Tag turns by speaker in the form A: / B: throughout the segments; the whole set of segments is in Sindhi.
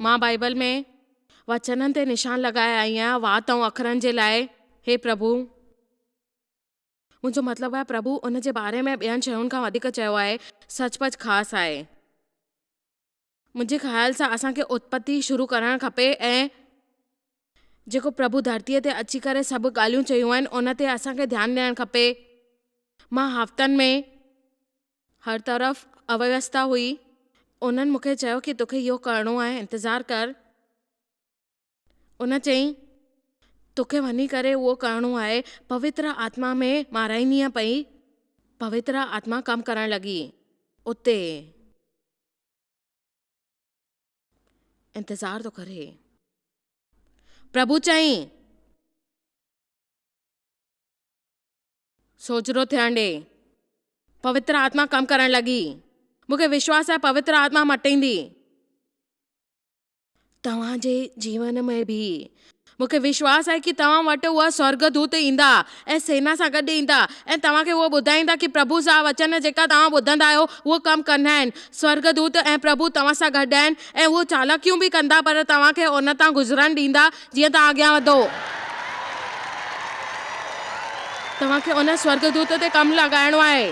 A: مان بائيبل ۾ وچنن تي نشان لڳائي آئي آهيان، وات ۽ اکرن جي لاء، هي پرڀو. منهنجو مطلب آهي، پرڀو ان جي باري ۾ ٻين شين کان وڌيڪ چيو آهي، سچ پچ خاص آهي. منهنجي خيال سان اسان کي اتپتي شروع ڪرڻ کپي ۽ جيڪو پرڀو ڌرتيء تي اچي ڪري سڀ ڳالهيون چيون آهن ان تي اسان کي ڌيان ڏيڻ کپي. مان هفتن ۾ هر طرف اويستا هئي. انهن مون کي چيو ڪي توکي اهو ڪرڻو آهي انتظار ڪر. ان چيائين، توکي وڃي ڪري اهو ڪرڻو آهي. پوتر آتما ۾ مارائيندينء پئي. پوتر آتما ڪم ڪرڻ لڳي. اتي انتظار ٿو ڪري. پرڀو چيائين، سوجهرو ٿيڻ ڏي. پوتر آتما ڪم ڪرڻ لڳي. مون کي وشواس آهي پوتر آتما مٽيندي. توهان جي جيون ۾ به مون کي وشواس آهي ڪي توهان وٽ اهي سورگدوت ايندا ۽ سينا سان گڏ ايندا ۽ توهان کي اهو ٻڌائيندا ڪي پرڀو جا وچن جيڪا توهان ٻڌندا آهيو اهو ڪم ڪندا آهن. سورگدوت ۽ پرڀو توهان سان گڏ آهن ۽ اهي چالاڪيون به ڪندا پر توهان کي ان تان گذرڻ ڏيندا جيئن توهان اڳيان وڌو. توهان کي ان سورگدوت تي ڪم لڳائڻو آهي.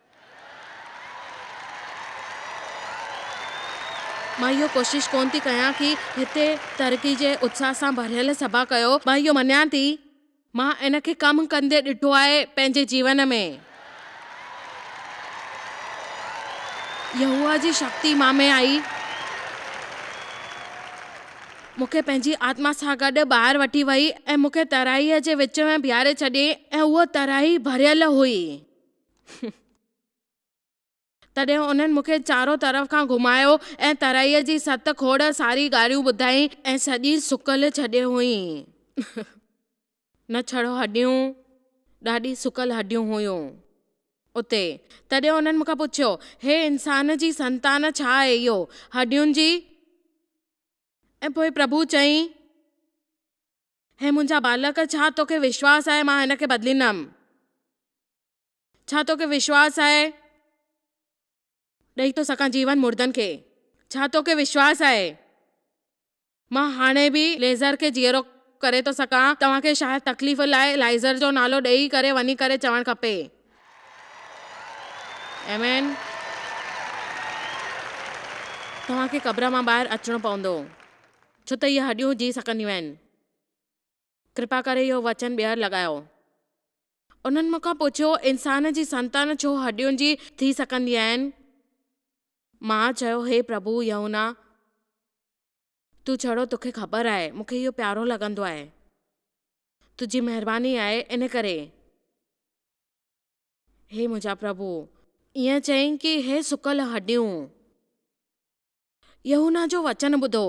A: مان اهو ڪوشش ڪونه ٿي ڪيان ڪي هتي ترقي جي اتساهه سان ڀريل سڀا ڪيو مان اهو مڃان ٿي. مان ان کي ڪم ڪندي ڏٺو آهي پنهنجي جيون ۾. يهوه جي شڪتي مان ۾ آئي مون کي پنهنجي آتما سان گڏ ٻاهر وٺي وئي ۽ مون کي ترائي جي وچ ۾ بيهاري ڇڏيائين ۽ اها ترائي ڀريل هئي. هئا. تڏهن انهن مون کي چارو طرف کان گهمايو ۽ ترائيء جي ست کوڙ ساري ڳالهيون ٻڌائين. ۽ سڄي سڪل ڇڏي هئائين. نه ڇڙو هڏيون، ڏاڍي سڪل هڏيون هيون اتي. تڏهن انهن مون کان پڇيو، هي انسان جي سنتان ڇا آهي اهو، هڏين جي؟ ۽ پوء پرڀو چيائين. هي منهنجا ٻالڪ، ڇا توکي وشواس آهي مان هن کي بدليندم؟ ڇا توکي وشواس آهي؟ ڏئي ٿو سگهان جيون مردن کي. ڇا توکي وشواس آهي؟ مان هاڻي به ليزر کي جيئرو ڪري ٿو سگهان. توهان کي شايد تڪليف لاء لائيزر جو نالو ڏئي ڪري وڃي ڪري چوڻ کپي. آمين. توهان کي قبر مان ٻاهر اچڻو پوندو. ڇو ته اهي هڏيون جي سڪنديون آهن. ڪرپا ڪري اهو وچن ٻيهر لڳايو. انهن مون کان پڇيو، انسان جي سنتان ڇو هڏيون جي ٿي سڪندي آهن؟ مان چيو، هي پرڀو يهونا، تون ڇڙو توکي خبر آهي، مون کي اهو پيارو لڳندو آهي. تنهنجي مهرباني آهي، ان ڪري. هي منهنجا پرڀو! ائين چئين ڪي هي سڪل هڏيون. يحنه جو وچن ٻڌو.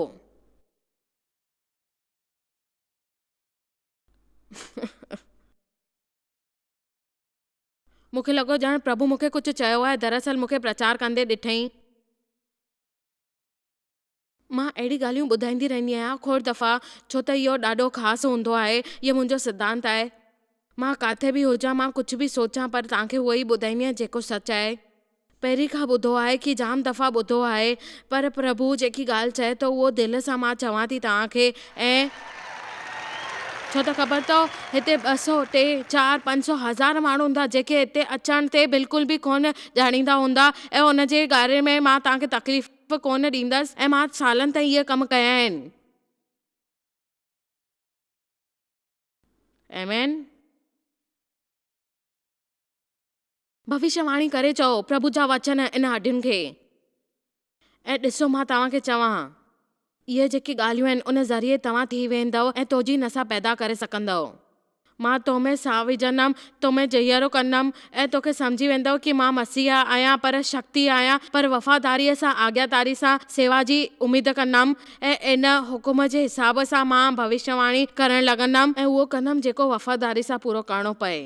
A: مون کي لڳو ڄڻ پرڀو مون کي ڪجهه چيو آهي، دراصل مون کي پرچار ڪندي ڏٺئي. مان اهڙي ڳالهيون ٻڌائيندي رهندي آهيان، کوڙ دفعا، ڇو ته اهو ڏاڍو خاص هوندو آهي، هيء منهنجو سڌانت آهي. مان ڪاٿي به هجان، مان ڪجهه به سوچان پر توهان کي اهو ئي ٻڌائينديان جيڪو سچ آهي. پهرين کان ٻڌو آهي ڪي جام دفعا ٻڌو آهي پر پرڀو جيڪي ڳالهه چئي ٿو اهو دل سان مان چوان ٿي توهان کي ۽ ڇو ته خبر اٿو هتي ٻه سؤ، ٽي، چار، پنج سؤ، هزار ماڻهو هوندا جيڪي هتي اچڻ تي بلڪل به ڪونه ڄاڻيندا هوندا ۽ ان جي ڪاري ۾ مان توهان کي تڪليف ڪونه ڏيندس ۽ مان سالن تائين اهي ڪم ڪيا آهن. M N. ڀوشيه واڻي ڪري چئو، پرڀو جا وچن ان هڏين کي. ۽ ڏسو مان توهان کي چوان. اهي جيڪي ڳالهيون آهن ان ذريعي توهان ٿي ويندؤ ۽ توجي نسا پيدا ڪري سگهندؤ. مان تو ۾ سانهه وجهندم، تو ۾ جهيرو ڪندم ۽ توکي سمجهي ويندؤ ڪي مان مسيح آهيان پر شڪتي آهيان پر وفاداريء سان آجياتاري سان سيوا جي اميد ڪندم ۽ ۽ ان حڪم جي حساب سان مان ڀوشيواڻي ڪرڻ لڳندم ۽ اهو ڪندم جيڪو وفاداري سان پورو ڪرڻو پئي.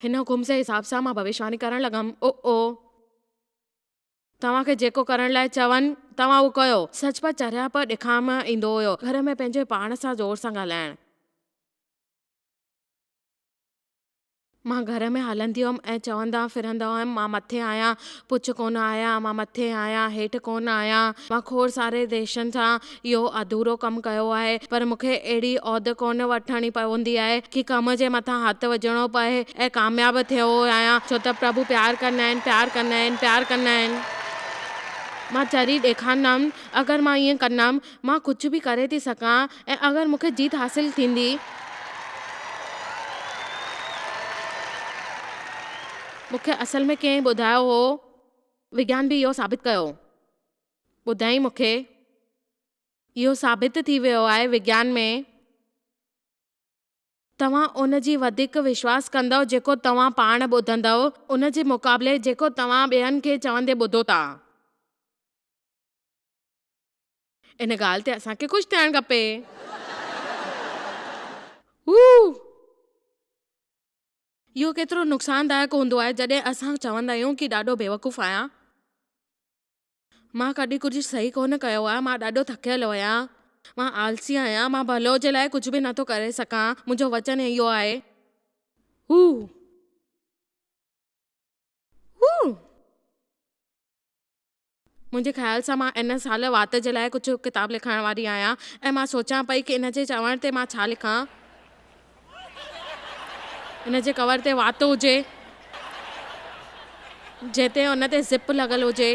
A: هن حڪم جي حساب سان مان ڀوشيواڻي ڪرڻ لڳم، او توهان کي جيڪو ڪرڻ لاء چون، توهان اهو ڪيو. سچ پر چريا پر ڏکام ايندو هيو گهر ۾ پنهنجي پاڻ سان زور سان ڳالهائڻ. مان گهر ۾ هلندي هئم ۽ چوندا ڦرندا هئم مان مٿي آهيان پڇ ڪونه آهيان مان مٿي آهيان هيٺ ڪونه آهيان مان کوڙ ساري ديشن سان اهو اڌورو ڪم ڪيو آهي پر مون کي اهڙي عهد ڪونه وٺڻي پوندي آهي ڪي ڪم جي مٿان هٿ وجهڻو پئي ۽ ڪامياب ٿيو آهيان ڇو ته پرڀو پيار ڪندا آهن پيار ڪندا آهن پيار ڪندا آهن مان چري ڏيکارندم اگر مان ائين ڪندم مان ڪجهه به ڪري ٿي سگهان. ۽ اگر مون کي جيت حاصل ٿيندي مون کي اصل ۾ ڪنهن ٻڌايو هو وگيان به اهو ثابت ڪيو ٻڌائين مون کي اهو ثابت ٿي ويو آهي وگيان ۾ توهان ان جي وڌيڪ وشواس ڪندؤ جيڪو توهان پاڻ ٻڌندؤ ان جي مقابلي جيڪو توهان ٻين کي چوندي ٻڌو ٿا. ان ڳالهه تي اسان کي خوش ٿيڻ کپي. هو! اهو ڪيترو نقصاندائڪ هوندو آهي جڏهن اسان چوندا آهيون ڪي ڏاڍو بيوقوف آهيان. مان ڪڏهن ڪجهه صحيح ڪونه ڪيو آهي. مان ڏاڍو ٿڪيل هيان. مان آلسي آهيان. مان ڀلو جي لاء ڪجهه به نٿو ڪري سگهان. منهنجو وچن اهو آهي. هو! هو! منهنجي خيال سان مان ان سال وات جي لاء ڪجهه ڪتاب لکڻ واري آهيان ۽ مان سوچان پئي ڪي ان جي چوڻ تي مان ڇا لکان. ان جي ڪور تي وات هجي، جنهن تي ان تي زپ لڳل هجي.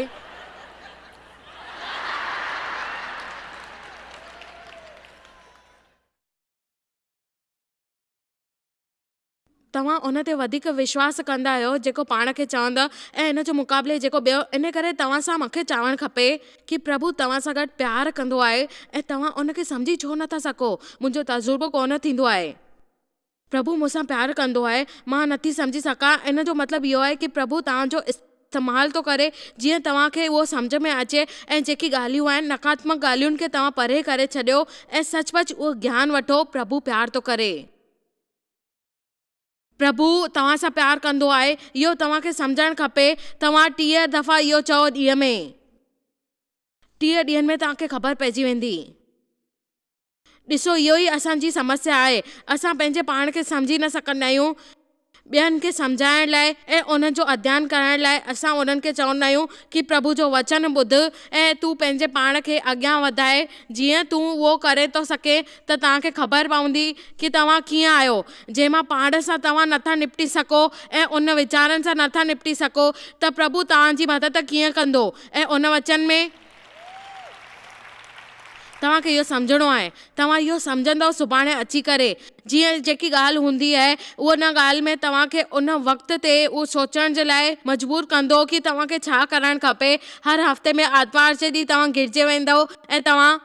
A: توهان ان تي وڌيڪ وشواس ڪندا آهيو جيڪو پاڻ کي چوندا ۽ ان جي مقابلي جيڪو ٻيو ان ڪري توهان سان مون کي چاوڻ کپي ڪي پرڀو توهان سان گڏ پيار ڪندو آهي ۽ توهان ان کي سمجهي ڇو نٿا سگهو منهنجو تجربو ڪونه ٿيندو آهي پرڀو مون سان پيار ڪندو آهي مان نٿي سمجهي سگهان ان جو مطلب اهو آهي ڪي پرڀو توهان جو استعمال ٿو ڪري جيئن توهان کي اهو سمجهه ۾ اچي ۽ جيڪي ڳالهيون آهن نقاتمڪ ڳالهين کي توهان پري ڪري ڇڏيو ۽ سچ پچ اهو گيان وٺو پرڀو پيار ٿو ڪري. پرڀو توهان سان پيار ڪندو آهي، اهو توهان کي سمجهڻ کپي. توهان ٽيهه دفعا اهو چئو ڏينهن ۾. ٽيهه ڏينهن ۾ توهان کي خبر پئجي ويندي. ڏسو اهو ئي اسان جي سمسيا آهي. اسان پنهنجي پاڻ کي سمجهي نه سگهندا آهيون. ٻين کي سمجهائڻ لاء ۽ انهن جو اڌيان ڪرڻ لاء اسان انهن کي چوندا آهيون ڪي پرڀو جو وچن ٻڌ ۽ تون پنهنجي پاڻ کي اڳيان وڌاء جيئن تون اهو ڪري ٿو سگهين ته توهان کي خبر پوندي ڪي توهان ڪيئن آهيو. جي مان پاڻ سان توهان نه ٿا نپٽي سگهو ۽ ان ويچارن سان نه ٿا نپٽي سگهو ته پرڀو توهان جي مدد ڪيئن ڪندو ۽ ان وچن ۾ توهان کي اهو سمجهڻو آهي توهان اهو سمجهندؤ سڀاڻي اچي ڪري جيئن جيڪي ڳالهه هوندي آهي اهو ان ڳالهه ۾ توهان کي ان وقت تي اهو سوچڻ جي لاء مجبور ڪندو ڪي توهان کي ڇا ڪرڻ کپي هر هفتي ۾ آرتوار جي ڏينهن توهان گرجي ويندؤ ۽ توهان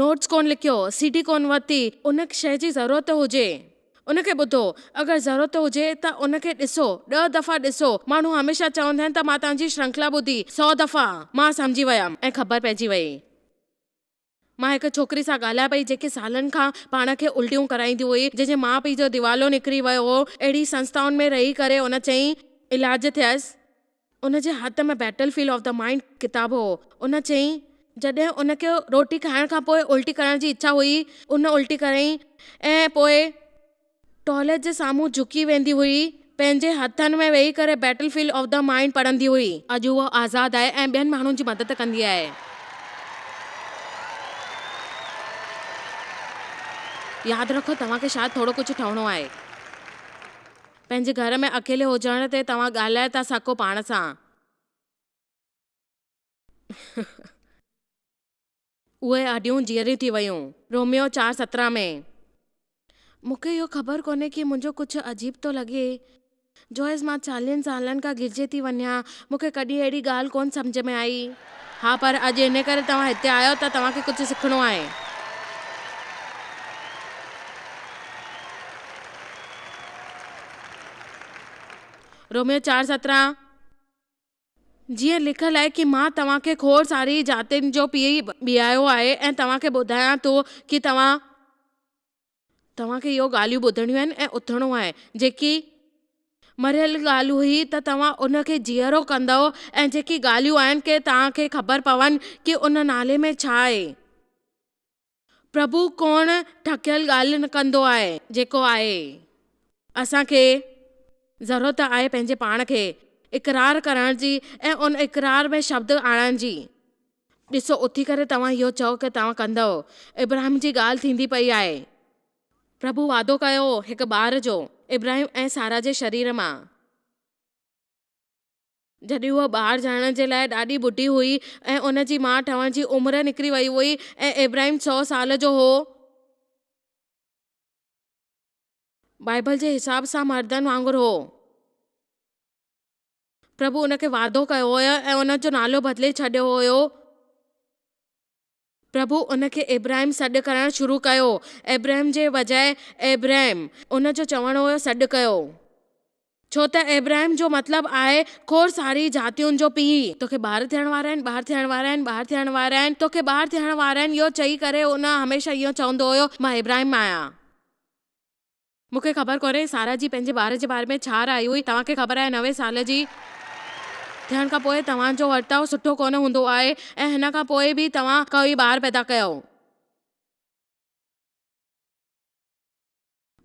A: نوٽس ڪونه لکيو، سي ڊي ڪونه ورتي، ان شيء جي ضرورت هجي ان کي ٻڌو، اگر ضرورت هجي ته ان کي ڏسو، ڏهه دفعا ڏسو، ماڻهو هميشه چوندا آهن ته مان توهان جي شرنکلا ٻڌي سؤ دفعا، مان سمجهي ويم ۽ خبر پئجي وئي. مان هڪ ڇوڪري سان ڳالهايان پئي جيڪي سالن کان پاڻ کي الٽيون ڪرائيندي هئي، جنهن جي ماء پيء جو ديوالو نڪري ويو هو، اهڙي سنستائن ۾ رهي ڪري ان چئي علاج ٿيس، ان جي هٿ ۾ Battlefield of the Mind ڪتاب هو. هن چيائين، جڏهن ان کي روٽي کائڻ کان پوء الٽي ڪرڻ جي اڇا هئي، هن الٽي ڪريائين ۽ پوء ٽوائليٽ جي سامهون جهڪي ويندي هئي، پنهنجي هٿن ۾ ويهي ڪري Battlefield of the Mind پڙهندي هئي. اڄ هوء آزاد آهي ۽ ٻين ماڻهن جي مدد ڪندي آهي. ياد رکو، توهان کي شايد ٿورو ڪجهه ٺهڻو آهي. پنهنجي گهر ۾ اڪيلي هجڻ تي توهان ڳالهائي ٿا سگهو پاڻ سان. اهي هڏيون جيئريون ٿي ويون. روميو چار سترهن ۾. مون کي اهو خبر ڪونهي ڪي منهنجو ڪجهه عجيب ٿو لڳي. جوئس مان چاليهن سالن کان گرجي ٿي وڃان. مون کي ڪڏهن اهڙي ڳالهه ڪونه سمجهه ۾ آئي. ها پر اڄ ان ڪري توهان هتي آيو ته توهان کي ڪجهه سکڻو آهي. روميو چار سترهن جيئن لکيل آهي ڪي مان توهان کي کوڙ ساري جاتين جو پيء بيهايو آهي ۽ توهان کي ٻڌايان ٿو ڪي توهان. توهان کي اهو ڳالهيون ٻڌڻيون آهن ۽ اٿڻو آهي. جيڪي مريل ڳالهه هئي ته توهان ان کي جيئرو ڪندؤ ۽ جيڪي ڳالهيون آهن ڪي توهان کي خبر پون ڪي ان نالي ۾ ڇا آهي. پرڀو ڪوڻ ڍڪيل ڳالهه نه ڪندو آهي. جيڪو آهي. اسان کي ضرورت آهي پنهنجي پاڻ کي اقرار ڪرڻ جي ۽ ان اقرار ۾ شبد آڻڻ جي. ڏسو اٿي ڪري توهان اهو چئو ڪي توهان ڪندؤ. ابراهيم جي ڳالهه ٿيندي پئي آهي. پرڀو وعدو ڪيو هو هڪ ٻار جو ابراهيم ۽ سارا جي شرير مان. جڏهن هوء ٻار ڄائڻ جي لاء ڏاڍي ٻڍي هئي ۽ ان جي ماء ٺهڻ جي عمر نڪري وئي هئي ۽ ابراهيم سؤ سال جو هو. بائيبل جي حساب سان مردن وانگر هو. پرڀو ان کي وعدو ڪيو هو ۽ ان جو نالو بدلي ڇڏيو هيو. پرڀو ان کي ابراهيم سڏ ڪرڻ شروع ڪيو، ابرهم جي بجاء ابريم. ان جو چوڻ هو سڏ ڪيو. ڇو ته ابراهيم جو مطلب آهي کوڙ ساري جاتين جو پيء. توکي ٻار ٿيڻ وارا آهن، ٻار ٿيڻ وارا آهن، ٻار ٿيڻ وارا آهن، توکي ٻار ٿيڻ وارا آهن اهو چئي ڪري هو هميشه اهو چوندو هيو مان ابراهيم آهيان. مون کي خبر ڪونهي سارا جي پنهنجي ٻار جي باري ۾ ڇا راء هئي. توهان کي خبر آهي نوي سال جي ٿيڻ کان پوء توهان جو ورتاء سٺو ڪونه هوندو آهي ۽ هن کان پوء به توهان ڪوئي ٻار پيدا ڪيو.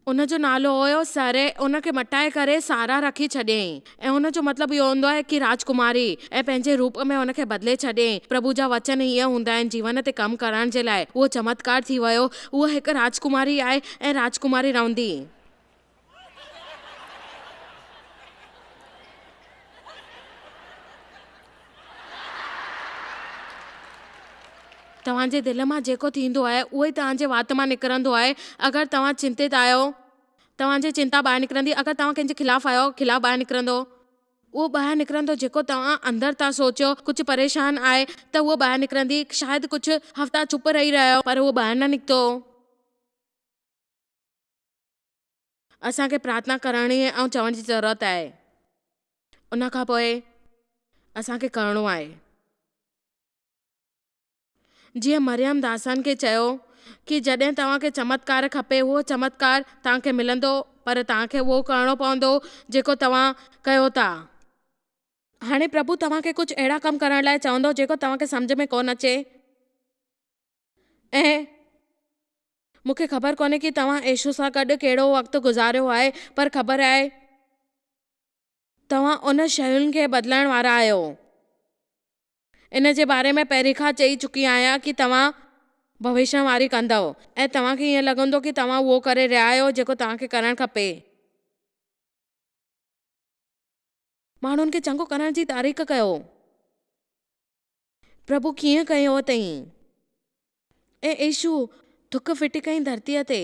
A: ان جو نالو هيو سري. ان کي مٽائي ڪري سارا رکي ڇڏيائين. ۽ ان جو مطلب اهو هوندو آهي ڪي راجڪماري ۽ پنهنجي روپ ۾ ان کي بدلي ڇڏي. پرڀو جا وچن هيئن هوندا آهن جيون تي ڪم ڪرڻ جي لاء اهو چمتڪار ٿي ويو. هوء هڪ راجڪماري آهي ۽ راجڪماري رهندي. توهان جي دل مان جيڪو ٿيندو آهي اهو ئي توهان جي وات مان نڪرندو آهي. اگر توهان چنتت آهيو. توهان جي چنتا ٻاهر نڪرندي اگر توهان ڪنهن جي خلاف آهيو، خلاف ٻاهر نڪرندو. اهو ٻاهر نڪرندو جيڪو توهان اندر ٿا سوچيو، ڪجهه پريشان آهي ته اهو ٻاهر نڪرندي، شايد ڪجهه هفتا چپ رهي رهيو پر اهو ٻاهر نه نڪتو. اسان کي پرارٿنا ڪرڻ ۽ چوڻ جي ضرورت آهي ان کان پوء اسان کي ڪرڻو آهي. جيئن مريم داسان کي چيو ڪي جڏهن توهان کي چمتڪار کپي اهو چمتڪار توهان کي ملندو پر توهان کي اهو ڪرڻو پوندو جيڪو توهان ڪيو ٿا. هاڻي پرڀو توهان کي ڪجهه اهڙا ڪم ڪرڻ لاء چوندو جيڪو توهان کي سمجهه ۾ ڪونه اچي ۽ مون کي خبر ڪونهي ڪي توهان ايشو سان گڏ ڪهڙو وقت گذاريو آهي پر خبر آهي توهان ان شين کي بدلائڻ وارا آهيو. ان جي باري ۾ پهرين کان چئي چڪي آهيان ڪي توهان ڀوشنواري ڪندؤ ۽ توهان کي ائين لڳندو ڪي توهان اهو ڪري رهيا آهيو جيڪو توهان کي ڪرڻ کپي. ماڻهن کي چڱو ڪرڻ جي تاريخ ڪيو. پرڀو ڪيئن ڪيو اٿئين. اي عيشو ٿڪ ڦٽي ڪئين ڌرتيء تي.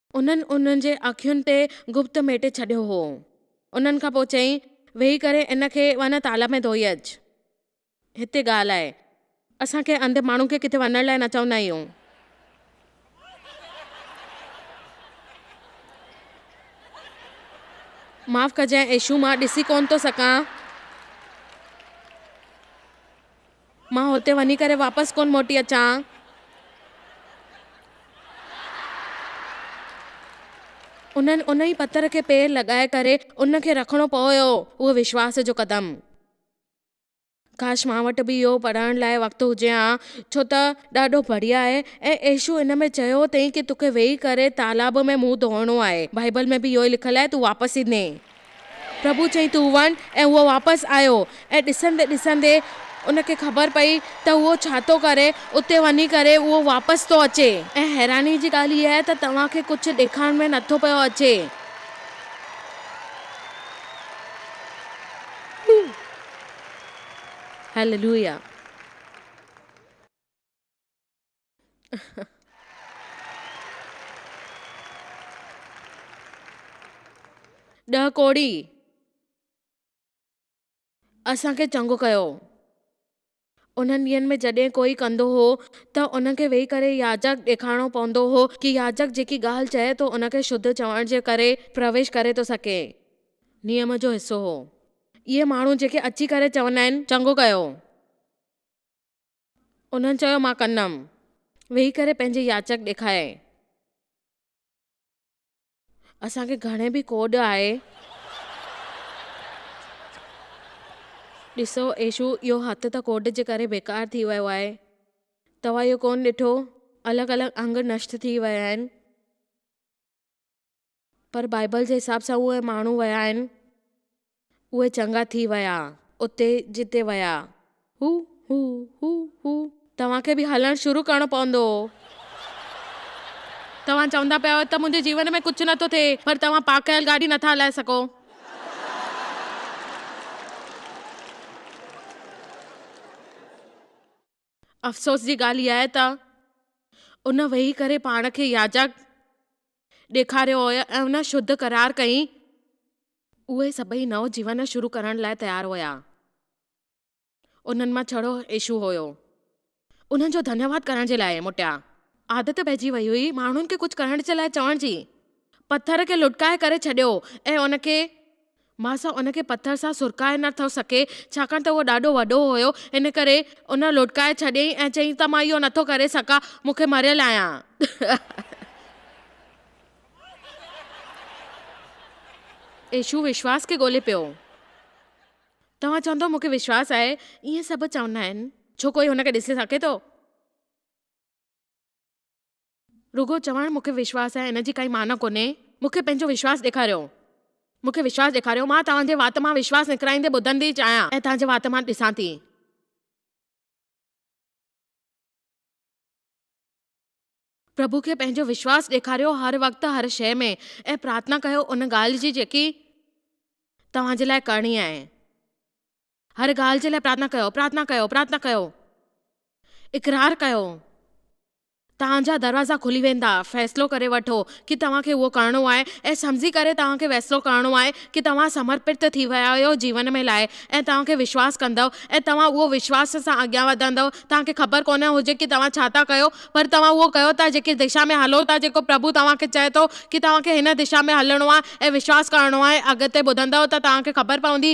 A: انهن انهن جي اکين تي گپت ميٽي ڇڏيو هو. انهن کان پوء چيائين، ويهي ڪري ان کي وڃ تالاب ۾ ڌوئي اچ. هتي ڳالهه آهي. اسان ڪنهن انڌي ماڻهو کي ڪٿي وڃڻ لاء نه چوندا آهيون. معاف ڪجانء ايشو مان ڏسي ڪونه ٿو سگهان. مان هتي وڃي ڪري واپس ڪونه موٽي اچان. انهن ان ئي پٿر کي پير لڳائي ڪري ان کي رکڻو پويو اهو وشواس جو قدم. ڪاش مان وٽ به اهو پڙهڻ لاء وقت هجي ها ڇو ته ڏاڍو بڙيا آهي ۽ عيشو ان ۾ چيو اٿئي ته توکي ويهي ڪري تالاب ۾ منهن ڌوئڻو آهي. بائيبل ۾ به اهو ئي لکيل آهي تون واپس ايندين. پرڀو چيائين تون وڃ ۽ هو واپس آيو ۽ ڏسندي ڏسندي ان کي خبر پئي ته هو ڇا ٿو ڪري اتي وڃي ڪري اهو واپس ٿو اچي. ۽ حيراني جي ڳالهه هيء آهي ته توهان کي ڪجهه ڏيکارڻ ۾ نه ٿو پيو اچي. هللويا. ڏهه ڪوڙي اسان کي چڱو ڪيو. انهن ڏينهن ۾ جڏهن ڪوئي ڪندو هو ته ان کي ويهي ڪري ياجڪ ڏيکارڻو پوندو هو ڪي ياجڪ جيڪي ڳالهه چئي ٿو ان کي شڌ چوڻ جي ڪري پرويش ڪري ٿو سگهي. نيم جو حصو هو. اهي ماڻهو جيڪي اچي ڪري چوندا آهن چڱو ڪيو. انهن چيو مان ڪندم. ويهي ڪري پنهنجي ياچڪ ڏيکاريائين. اسان کي گهڻي به ڪوڏ آهي. ڏسو ايشو اهو هٿ ته ڪوڏ جي ڪري بيڪار ٿي ويو آهي. توهان اهو ڪونه ڏٺو الڳ الڳ انگ نشٽ ٿي ويا آهن. پر بائيبل جي حساب سان اهي ماڻهو ويا آهن. اهي چڱا ٿي ويا اتي جتي ويا. هو هو هو هو توهان کي به هلڻ شروع ڪرڻو پوندو. توهان چوندا پيا آهيو ته منهنجي جيون ۾ ڪجهه نٿو ٿئي پر توهان پارڪ ڪيل گاڏي نٿا هلائي سگهو. افسوس جي ڳالهه اها آهي ته ان ويهي ڪري پاڻ کي ياجڪ ڏيکاريو هو ۽ ان شڌ قرار ڪيائين. اهي سڀئي نئون جيون شروع ڪرڻ لاء تيار هيا. انهن مان ڇڙو ايشو هيو. انهن جو ڌنيواد ڪرڻ جي لاء موٽيا. عادت پئجي ويئي هئي ماڻهن کي ڪجهه ڪرڻ جي لاء چوڻ جي. پٿر کي لٽڪائي ڪري ڇڏيو ۽ ان کي. ماسا ان کي پٿر سان سرڪائي نه ٿو سگهي، ڇاڪاڻ ته اهو ڏاڍو وڏو هيو، ان ڪري ان لٽڪائي ڇڏيائين ۽ چيائين ته مان اهو نه ٿو ڪري سگهان، مون کي مريل آهيان. يشوع وشواس کي ڳولي پيو. توهان چوندؤ مون کي وشواس آهي، ائين سڀ چوندا آهن. ڇو ڪوئي هن کي ڏسي سگهي ٿو؟ رڳو چوڻ مون کي وشواس آهي ان جي ڪائي معنيٰ ڪونهي. مون کي پنهنجو وشواس ڏيکاريو. مون کي وشواس ڏيکاريو. مان توهان جي وات مان وشواس نڪرائيندي ٻڌندي آهيان ۽ توهان جي وات مان ڏسان ٿي. پرڀو کي پنهنجو وشواس ڏيکاريو هر وقت هر شيء ۾ ۽ پرارٿنا ڪيو ان ڳالهه جي جيڪي توهان جي لاء ڪرڻي آهي. هر ڳالهه جي لاء پرارٿنا ڪيو، پرارٿنا ڪيو، پرارٿنا ڪيو، اقرار ڪيو، توهان جا دروازا کلي ويندا، فيصلو ڪري وٺو ڪي توهان کي اهو ڪرڻو آهي ۽ سمجهي ڪري توهان کي فيصلو ڪرڻو آهي ڪي توهان سمرپت ٿي ويا آهيو جيون ۾ لاء ۽ توهان کي وشواس ڪندؤ ۽ توهان اهو وشواس سان اڳيان وڌندؤ توهان کي خبر ڪونه هجي ڪي توهان ڇا ٿا ڪيو پر توهان اهو ڪيو ٿا جيڪي دشا ۾ هلو ٿا جيڪو پرڀو توهان کي چئي ٿو ڪي توهان کي هن دشا ۾ هلڻو آهي ۽ وشواس ڪرڻو آهي اڳتي ٻڌندؤ ته توهان کي خبر پوندي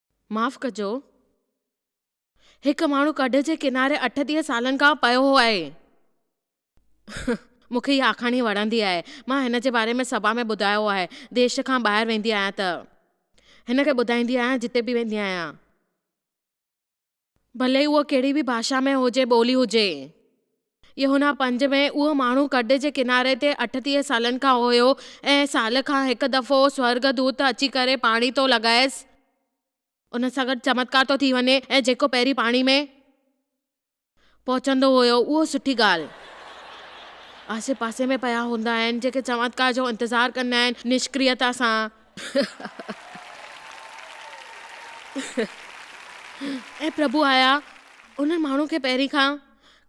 A: معاف ڪجو هڪ ماڻهو ڪڍ جي ڪناري اٺٽيهه سالن کان پيو هو آهي. مون کي هيء آکاڻي وڻندي آهي. مان هن جي باري ۾ سڀا ۾ ٻڌايو آهي. ديش کان ٻاهر ويندي آهيان ته هن کي ٻڌائيندي آهيان جتي به ويندي آهيان. ڀلي اهو ڪهڙي به ڀاشا ۾ هجي، ٻولي هجي. يوحنا پنج ۾ اهو ماڻهو ڪڍ جي ڪناري تي اٺٽيهه سالن کان هيو، ۽ سال کان هڪ دفعو سورڳدوت اچي ڪري پاڻي ٿو لڳائيس. ان سان گڏ چمتڪار ٿو ٿي وڃي، ۽ جيڪو پهرين پاڻي ۾. پهچندو هيو اهو سٺي ڳالهه. آسي پاسي ۾ پيا هوندا آهن جيڪي چمتڪار جو انتظار ڪندا آهن نشڪريتا سان. اي پرڀو آيا ان ماڻهو کي پهرين کان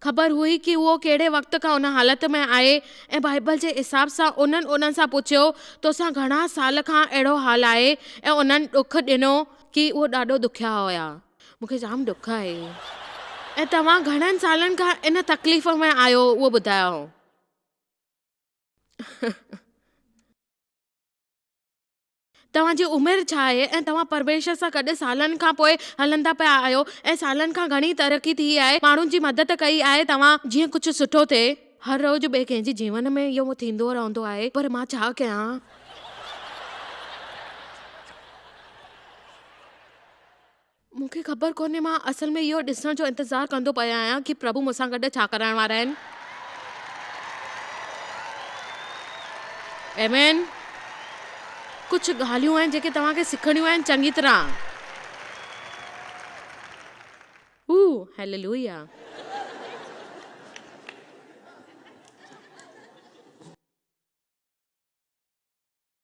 A: خبر هئي ڪي اهو ڪهڙي وقت کان ان حالت ۾ آهي ۽ بائيبل جي حساب سان انهن انهن سان پڇيو توسان گهڻا سال کان اهڙو حال آهي ۽ انهن ڏک ڏنو ڪي اهو ڏاڍو ڏکيا هيا. مون کي جام ڏک آهي ۽ توهان گهڻن سالن کان ان تڪليف ۾ آهيو اهو ٻڌايائون. توهان جي عمر ڇا آهي ۽ توهان پرميشور سان گڏ سالن کان پوء هلندا پيا آهيو ۽ سالن کان گهڻي ترقي ٿي آهي، ماڻهن جي مدد ڪئي آهي توهان جيئن ڪجهه سٺو ٿئي. هر روز ٻئي ڪنهن جي جيون ۾ اهو ٿيندو رهندو آهي پر مان ڇا ڪيان. مون کي خبر ڪونهي مان اصل ۾ اهو ڏسڻ جو انتظار ڪندو پيو آهيان ته پرڀو مون سان گڏ ڇا ڪرائڻ وارا آهن. ايمين، ڪجهه ڳالهيون آهن جيڪي توهان کي سکڻيون آهن چڱي طرح. هو، هيللويا.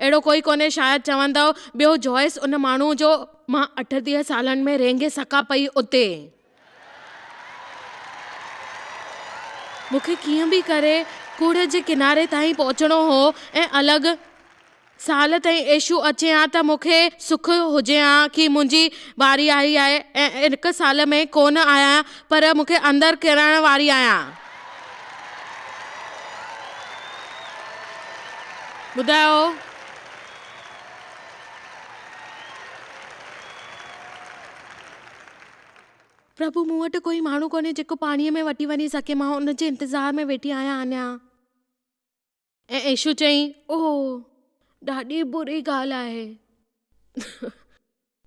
A: اهڙو ڪوئي ڪونهي شايد چوندؤ. ٻيو جوئس ان ماڻهوء جو. مان اٺٽيهه سالن ۾ رينگي سڪا پئي اتي. مون کي ڪيئن به ڪري ڪوڙهه جي ڪناري تائين پهچڻو هو ۽ الڳ سال تائين ايشو اچي ها ته مون کي سک هجي ها ڪي منهنجي واري آئي آهي ۽ هڪ سال ۾ ڪونه آيان پر مون کي اندر ڪرڻ واري آهيان. ٻڌايو پرڀو مون وٽ ڪوئي ماڻهو ڪونهي جيڪو پاڻيء ۾ وٺي وڃي سگهي مان ان جي انتظار ۾ ويٺي آهيان اڃان. ۽ ايشو چيائين، اوهه، ڏاڍي بري ڳالهه آهي.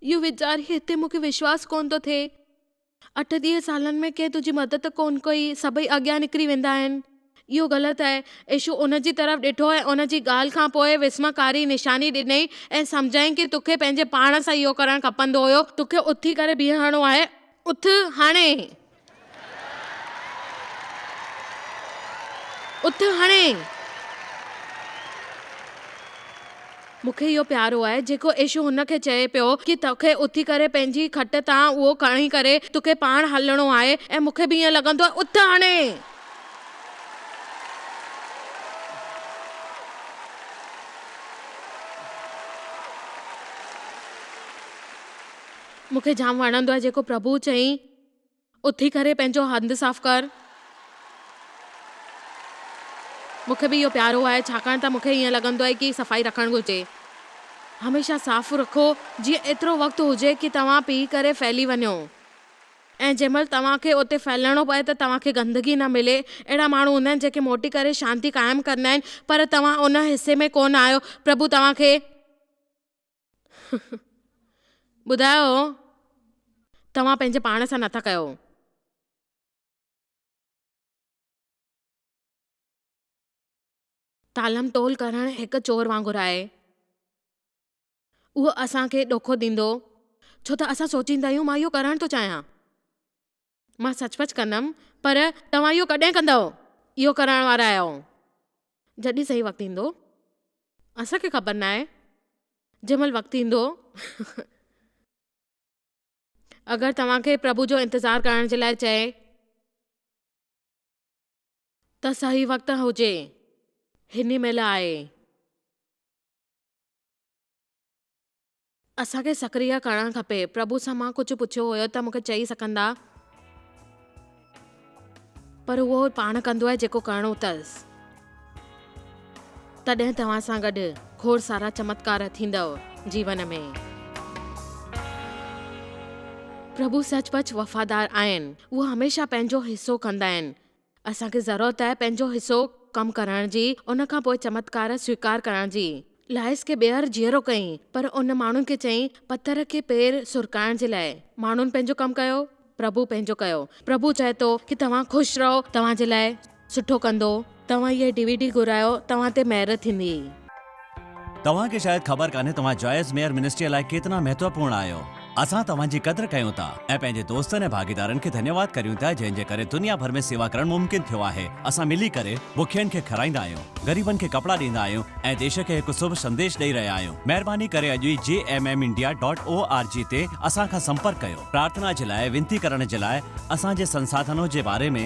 A: اهو ويچاري هتي مون کي وشواس ڪونه ٿو ٿئي. اٺ-ڏيهه سالن ۾ ڪنهن تنهنجي مدد ڪونه ڪئي، سڀئي اڳيان نڪري ويندا آهن. اهو غلط آهي. ايشو ان جي طرف ڏٺو ۽ ان جي ڳالهه کان پوء وسمڪاري نشاني ڏنئي ۽ سمجهايائين ڪي توکي پنهنجي پاڻ سان اهو ڪرڻ کپندو هيو. توکي اٿي ڪري بيهڻو آهي. اٿ هاڻي. اٿ هڻي! مون کي اهو پيارو آهي، جيڪو عيشو هن کي چئي پيو ڪي توکي اٿي ڪري پنهنجي کٽ تان اهو کڻي ڪري توکي پاڻ هلڻو آهي ۽ مون کي به ائين لڳندو آهي. اٿ هڻي! مون کي جام وڻندو آهي جيڪو پرڀو چئي. اٿي ڪري پنهنجو هنڌ صاف ڪر. مون کي به اهو پيارو آهي ڇاڪاڻ ته مون کي ائين لڳندو آهي ڪي صفائي رکڻ گهرجي. هميشه صاف رکو جيئن ايترو وقت هجي ڪي توهان پي ڪري ڦهلي وڃو ۽ جنهن مهل توهان کي اتي ڦهلڻو پوي ته توهان کي گندگي نه ملي. اهڙا ماڻهو هوندا آهن جيڪي موٽي ڪري شانتي قائم ڪندا آهن پر توهان ان حصي ۾ ڪونه آهيو. پرڀو توهان کي. ٻڌايو توهان پنهنجي پاڻ سان نٿا ڪيو. تالم تول ڪرڻ هڪ چور وانگر آهي. اهو اسان کي ڏوکو ڏيندو ڇو ته اسان سوچيندا آهيون مان اهو ڪرڻ ٿو چاهيان. مان سچ پچ ڪندم، پر توهان اهو ڪڏهن ڪندؤ؟ اهو ڪرائڻ وارا آهيو، جڏهن صحيح وقت ايندو. اسان کي خبر ناهي، جنهن مهل وقت ايندو. اگر توهان کي پرڀو جو انتظار ڪرڻ جي لاء چئي ته صحيح وقت هجي، هن ئي مهل آهي. اسان کي سڪريه ڪرڻ کپي. پرڀو سان مان ڪجهه پڇيو هيو ته مون کي چئي سگهندا. پر اهو پاڻ ڪندو آهي جيڪو ڪرڻو اٿس. تڏهن توهان سان گڏ کوڙ سارا چمتڪار ٿيندؤ جيون ۾. پرڀو سچ پچ وفادار آهن. اهو هميشه پنهنجو حصو ڪندا آهن. اسان کي ضرورت آهي پنهنجو حصو ڪم ڪرڻ جي ان کان پوء چمتڪار سويڪار ڪرڻ جي. لائيس کي ٻيهر جيئرو ڪيائين پر ان ماڻهن کي چيائين پٿر کي پير سرڪائڻ جي لاء. ماڻهن پنهنجو ڪم ڪيو، پرڀو پنهنجو ڪيو. پرڀو چاهي ٿو ڪي توهان خوش رهو توهان جي لاء سٺو ڪندو. توهان هيء ڊي وي ڊي گهرايو توهان تي مهر ٿيندي.
B: توهان کي شايد خبر ڪانهي توهان جائز ميئر منسٽريء لاء ڪيترا مهتوپورڻ آهيو. اسان توهان جي قدر ڪيون ٿا ۽ پنهنجي دوستن ۽ ڀاڳيدارن کي ڌنيواد ڪريون ٿا جنهن جي ڪري دنيا ڀر ۾ سيوا ڪرڻ ممڪن ٿيو آهي. اسان ملي ڪري بکين کي کارائيندا آهيون، غريبن کي ڪپڙا ڏيندا آهيون ۽ ديش کي هڪ سڀ سنديش ڏئي رهيا آهيون. مهرباني ڪري اڄ ئي G M M India dot O R G تي اسان کان سمپرڪ ڪيو. پرارٿنا جي لاء، وينتي ڪرڻ جي لاء، اسان جي سنساڌنون جي باري ۾،